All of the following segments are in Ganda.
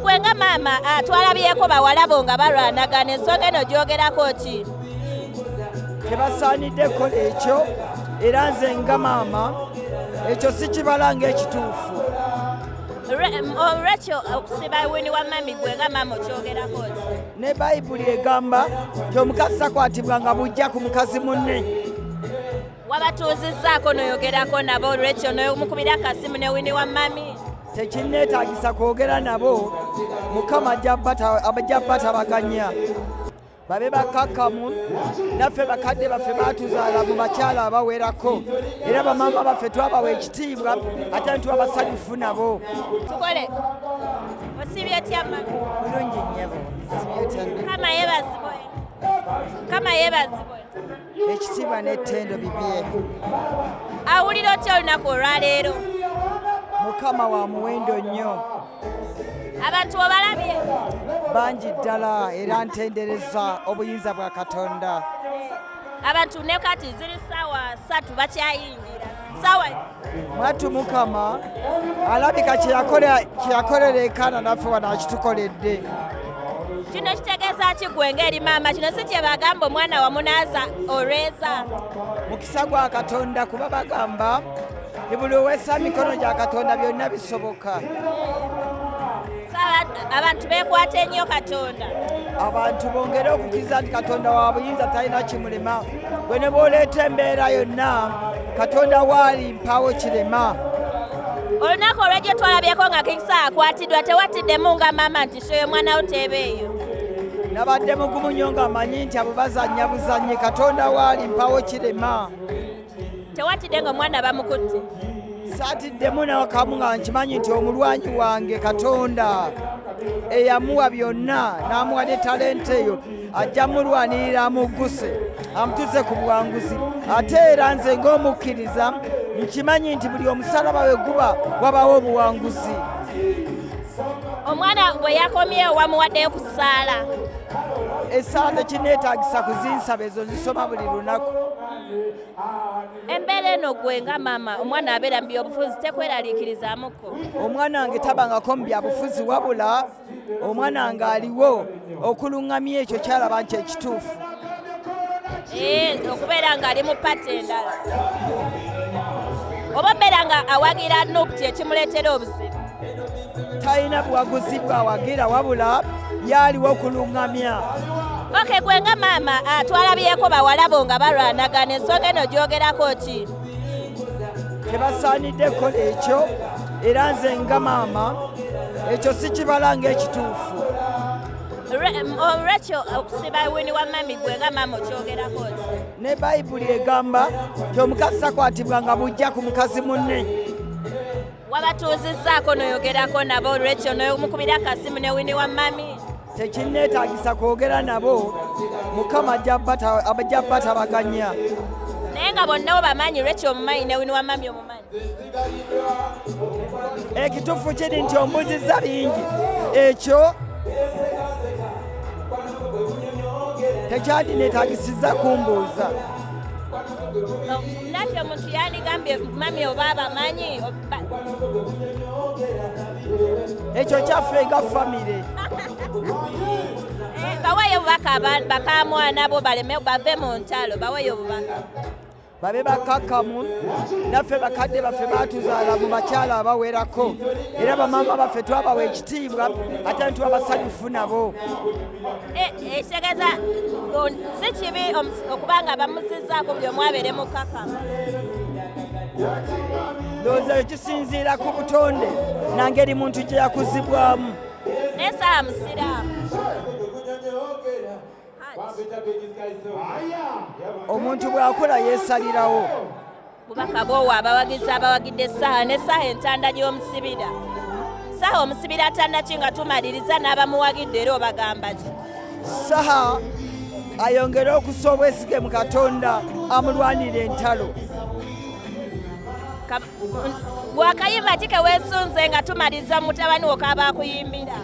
gwe nga maama ah, twalabyeko bawalabo nga balwanagana ensonga eno gyogerako ki tebasaanidde kola ekyo era nze nga maama ekyo sikibala ngaekituufu olwekyo um, okusiba wini wa mami gwe nga maama okyogerako ki ne bayibuli egamba nti omukazi takwatibwa nga bujja ku mukazi munne wabatuuzizzaako noyogerako nabo rachel nomukubira akasimu ne wini wa mami tekinneetagisa kwogera nabo mukama ajja batabaganya babe bakakkamu naffe bakadde baffe baatuzaala mu bakyala abawerako era bamaama baffe twabawa ekitiibwa ate nituba basanyufu nabo tukole osibye tyama bulungi nyabo kama yebazibwe kama yebazibwe ekitiibwa n'ettendo bibye awulira otya olunaku olwaleero mukama wa muwendo nnyo abantu obalabye bangi ddala era ntendereza obuyinza bwa katonda abantu ne kati ziri ssaawa ssatu bakyayingira mwattu mukama alabika kyeyakolera ekaana naffe wano akitukoledde kino kitegeeza ki gwe ng'eri maama kino si kye bagamba omwana wamunaaza olweza mukisa gwa katonda kuba bagamba buli owesa mikono gya katonda byonna bisoboka abantu bekwata ennyo katonda abantu bongere okukkiriza nti katonda wa buyinza talina kimulema gwe ne bwoleeta embeera yonna katonda waali mpaawo kirema olunaku olwejjo twalabyeko nga kikisa akwatiddwa tewatiddemu nga maama nti shoyo omwana wo teeba eyo nabadde mugumu nnyo ng'amanyi nti abo bazannya buzannyi katonda waali mpaawo kirema tewatidde nga omwana bamukutte saatiddemu nakamu nga nkimanyi nti omulwanyi wange katonda eyamuwa byonna n'amuwa ne talenti eyo ajja mulwanirira amugguse amutuze ku buwanguzi ate era nze ng'omukkiriza nkimanyi nti buli omusalaba we guba wabawo obuwanguzi omwana bwe yakomyewo wamuwaddeyo ku ssaala esaala tekineetagisa kuzinsaba ezo zisoma buli lunaku embeera eno gwe nga maama omwana abeera mu byobufuzi tekweraliikirizaamuko omwana wange tabangako mu byabufuzi wabula omwana wange aliwo okuluŋŋamya ekyo kyalaba nti ekituufu eh, okubeera ng'ali mu pati endala oba obeera nga awagira nup kyekimuleetera obuzibu talina buwaguzi bwawagira wabula yaaliwo okulungamya oke gwe nga maama ah, twalabyeko bawalabo nga balwanagana ensonga eno gyogerako ki tebasaanidde kukola ekyo era nze nga maama ekyo sikibala ngaekituufu olwekyo um, oh, okusiba wini wa mami gwe nga maama okyogerako ki ne bayibuli egamba nti omukazi takwatibwa nga bujja ku mukazi munne wabatuuzizzaako noyogerako nabo rachel nomukubira akasimu ne wini wa mami tekinneetagisa kwogera nabo mukama ajja batabaganya naye nga bonna obamanyi rachel omumanyi ne wini wa mami omumanyi ekituufu kiri nti ombuzizza bingi ekyo tekyandinetaagisiza kumbuuza Nate omuntu yandigambye mami oba abamanyi ekyo kyaffe nga famire eh, baweeyo obubaka bakamwana bo baleme bave mu ntalo baweeyo obubaka babe bakakamu naffe bakadde baffe batuzaala mu bakyala abawerako era bamaama baffe twabawa ekitiibwa ate ntuwa basanyufu nabo ekitegeeza eh, eh, si kibi okuba nga bamusizaako buli omu abeere mukakama ndowooza yo kisinziira ku butonde nangeri muntu gye yakuzibwamu naye saa musiraamu omuntu bw'akula yeesalirawo bubaka bwowa abawagizi abawagidde essaawa n'essaawa entanda gy'omusibira saha omusibira atandaki nga tumaliriza n'abamuwagidde era obagamba ki saha ayongere okusa obwesige mu katonda amulwanira entalo gwakayimba ki kewesunze nga tumaliza mutabani wo kaba akuyimbira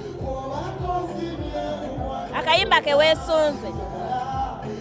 akayimba kewesunze